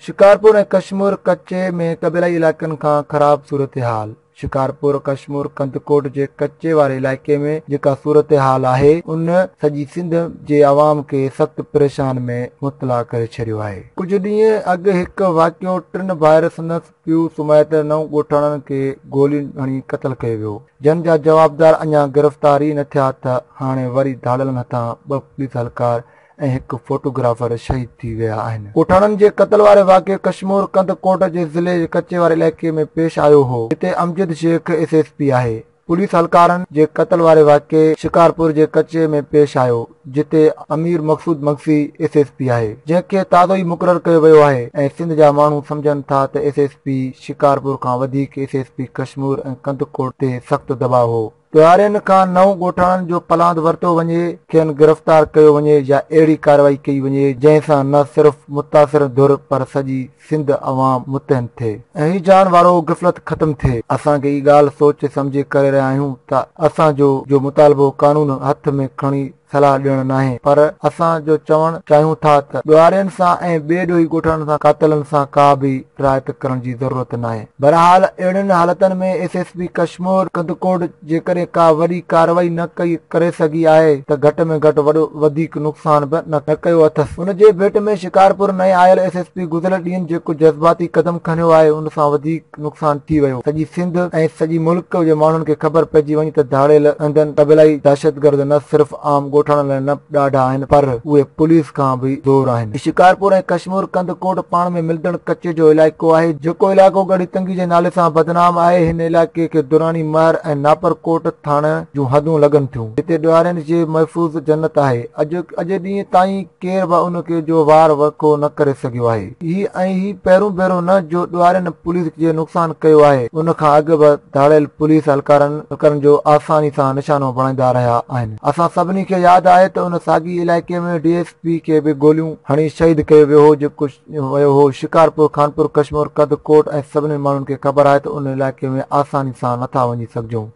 شڪارپور ۽ ڪشمور ڪچي ۾ قبيلائي علائقن کان خراب صورتحال شڪارپور ڪشمور ڪنڌڪوٽ جي ڪچي واري علائقي ۾ جيڪا صورتحال آهي ان سڄي سنڌ جي عوام کي سخت پريشان ۾ مبتلا ڪري ڇڏيو آهي ڪجهه ڏينهن اڳ هڪ واقعو ٽن ڀائر سندس پيو سمهي ته نو ڳوٺاڻن کي گولين هڻي قتل ڪيو ويو، جن جا جوابدار اڃا گرفتار ئي نه ٿيا ته هاڻي وري ڌاڙيلن هٿان ٻه پوليس اھلڪار ۽ هڪ فوٽوگرافر شھيد ٿي ويا آھن. ڳوٺاڻن جي قتل واري واقعو ڪشمور ڪنڌ ڪوٽ جي ضلعي جي ڪچي واري علائقي ۾ پيش آيو هو، جتي Amjad Shaikh S S P آهي. پوليس اھلڪارن جي قتل واري واقعي شڪارپور جي ڪچي ۾ پيش آيو جتي Amir Maqsood Magsi S S P آھي جنھن کي تازو ئي مقرر ڪيو ويو آھي ۽ سنڌ جا ماڻھو سمجهن ٿا ته ايس ايس پي شڪارپور کان وڌيڪ S S P Kashmore ۽ Kandhkot تي سخت دٻاء ھو ڏھاڙين کان نو ڳوٺاڻن جو پلاند ورتو وڃي کين گرفتار ڪيو وڃي يا اھڙي ڪارروائي ڪئي وڃي جنھن سان نه صرف متاثر ڌر پر سڄي سنڌ عوام مطعن ٿئي ۽ هي جان وارو غفلت ختم ٿئي اسان کي هي ڳالهه سوچي سمجهي ڪري رهيا آهيون ته اسان جو جو مطالبو قانون هٿ ۾ کڻي صلاح ڏيڻ ناهي پر اسان جو چوڻ چاهيون ٿا ته ڏوهارين سان ۽ ٻي ڏوهي ڳوٺاڻن سان قاتلن سان ڪا به رعايت ڪرڻ جي ضرورت ناهي بهرحال اهڙين حالتن ۾ S S P Kashmore Kandhkot جيڪڏهن ڪا وڏي ڪارروائي نه ڪئي ڪري سگهي آهي ته گهٽ ۾ گهٽ وڏو وڌيڪ نقصان به نه ڪيو اٿس. ان جي ڀيٽ ۾ شڪارپور نئين آيل ايس ايس پي گذريل ڏينهن جيڪو جذباتي قدم کنيو آهي ان سان وڌيڪ نقصان ٿي ويو. سڄي سنڌ ۽ سڄي ملڪ جي ماڻهن کي خبر پئجي وڃي ته ڌاڙيل هندن قبيلائي دهشتگرد نه صرف عام ڳوٺاڻن لاء نه ڏاڍا آهن پر اهي پوليس کان به زور آهن. شڪارپور ۽ ڪشمور ڪنڌ ڪوٽ پاڻ ۾ ملندڙ ڪچي جو علائقو آهي، جيڪو علائقو ڳڙهي تنگي جي نالي سان بدنام آهي، هن علائقي کي دراني مهر ۽ ناپر ڪوٽ ٿاڻن جون حدون لڳن ٿيون، جتي ڏوهارين جي محفوظ جنت آهي، اڄ اڄ ڏينهن تائين. ڪير به ان کي جو وار وکو نه ڪري سگهيو آهي. هي ۽ هي پهرون ڀيرو نه جو ڏوهارين پوليس جي نقصان ڪيو آهي، ان کان اڳ به ڌاڙيل پوليس اهلڪارن اهلڪارن جو آساني سان نشانو بڻائيندا رهيا آهن. اسان سڀني کي ياد آهي ته ان ساڳي علائقي ۾ ڊي ايس پي کي به گوليون هڻي شهيد ڪيو ويو هو جيڪو ويو هو شڪارپور، خانپور ڪشمور، ڪنڌ ڪوٽ ۽ سڀني ماڻهن کي خبر آهي ته ان علائقي ۾ آساني سان نٿا وڃي سگهجون.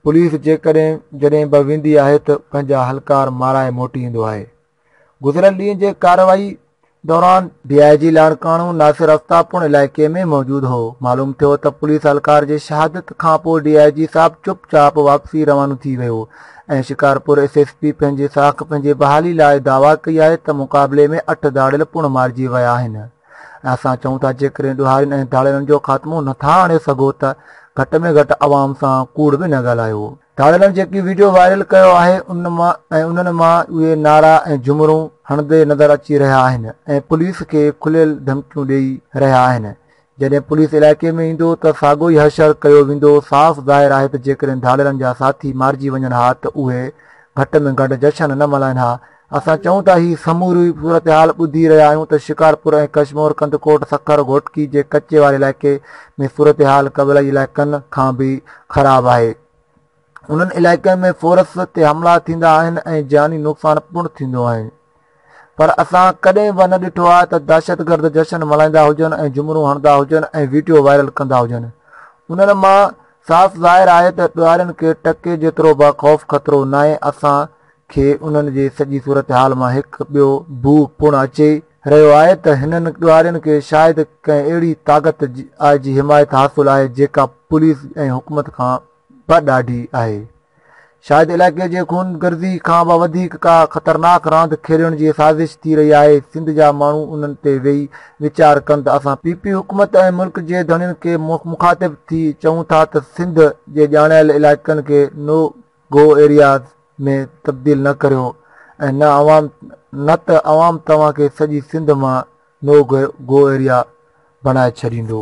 پوليس جيڪڏهن جڏهن به ويندي آهي ته پنهنجا اهلڪار مارائي موٽي ايندو آهي گذريل ڏينهن جي ڪارروائي دوران ڊي آء جي لاڙڪاڻو ناصر افتاب پڻ علائقي ۾ موجود هو معلوم ٿيو ته پوليس اهلڪار جي شهادت کانپوء ڊي آء جي صاحب چپ چاپ واپسي روانو ٿي ويو ۽ شڪارپور ايس ايس پي پنهنجي ساک پنهنجي بحالي لاء دعويٰ ڪئي آهي ته مقابلي ۾ اٺ ڌاڙيل پڻ مارجي ويا آهن ۽ اسان چئون ٿا جيڪڏهن ڏوهارين ۽ ڌاڙيلن جو خاتمو نٿا آڻي سگهو ته گهٽ ۾ گهٽ عوام سان ڪوڙ به نه ڳالهايو. ڌاڙيلن جيڪي وڊيو وائرل ڪيو آهي ان مان ۽ انهن مان اهي نعرا ۽ جهمرون هڻندي نظر اچي رهيا آهن ۽ پوليس کي کليل ڌمڪيون ڏئي رهيا آهن. جڏهن پوليس علائقي ۾ ايندو ته ساڳو ئي حشر ڪيو ويندو، صاف ظاهر آهي ته جيڪڏهن ڌاڙيلن جا ساٿي مارجي وڃن ها ته اهي گهٽ ۾ گهٽ جشن نه ملهائين ها، اسان چئون ٿا هي سموري صورتحال ٻڌي رهيا آهيون ته شڪارپور ۽ ڪشمور ڪنڌڪوٽ سکر گهوٽڪي جي ڪچي واري علائقي ۾ صورتحال قبلائي علائقن کان به خراب آهي انهن علائقن ۾ فورس تي حملا ٿيندا آهن ۽ جاني نقصان پڻ ٿيندو آهي پر اسان ڪڏهن به نه ڏٺو آهي ته دهشتگرد جشن ملهائيندا هجن ۽ جمرون هڻدا هجن ۽ ويڊيو وائرل ڪندا هجن انهن مان صاف ظاهر آهي ته ڏوهارين کي ٽڪي جيترو به خوف خطرو ناهي اسان کي انهن جي سڄي صورتحال مان هڪ ٻيو بوء پڻ اچي رهيو آهي ته هنن ڏوهارين کي شايد ڪنهن اهڙي طاقت جي حمايت حاصل آهي جيڪا پوليس ۽ حڪومت کان به ڏاڍي آهي. شايد علائقي جي خون گرزي کان به وڌيڪ ڪا خطرناڪ راند کيڏڻ جي سازش ٿي رهي آهي. سنڌ جا ماڻهو انهن تي ويهي ويچار ڪن ته اسان پي پي حڪومت ۽ ملڪ جي ڌڻين کي مخاطب ٿي چئون ٿا ته سنڌ جي ڄاڻايل علائقن کي نو گو ايرياز ۾ تبديل نه ڪريو ۽ نه عوام نه ته عوام توهان کي سڄي سنڌ مان نو گو ايريا بڻائي ڇڏيندو.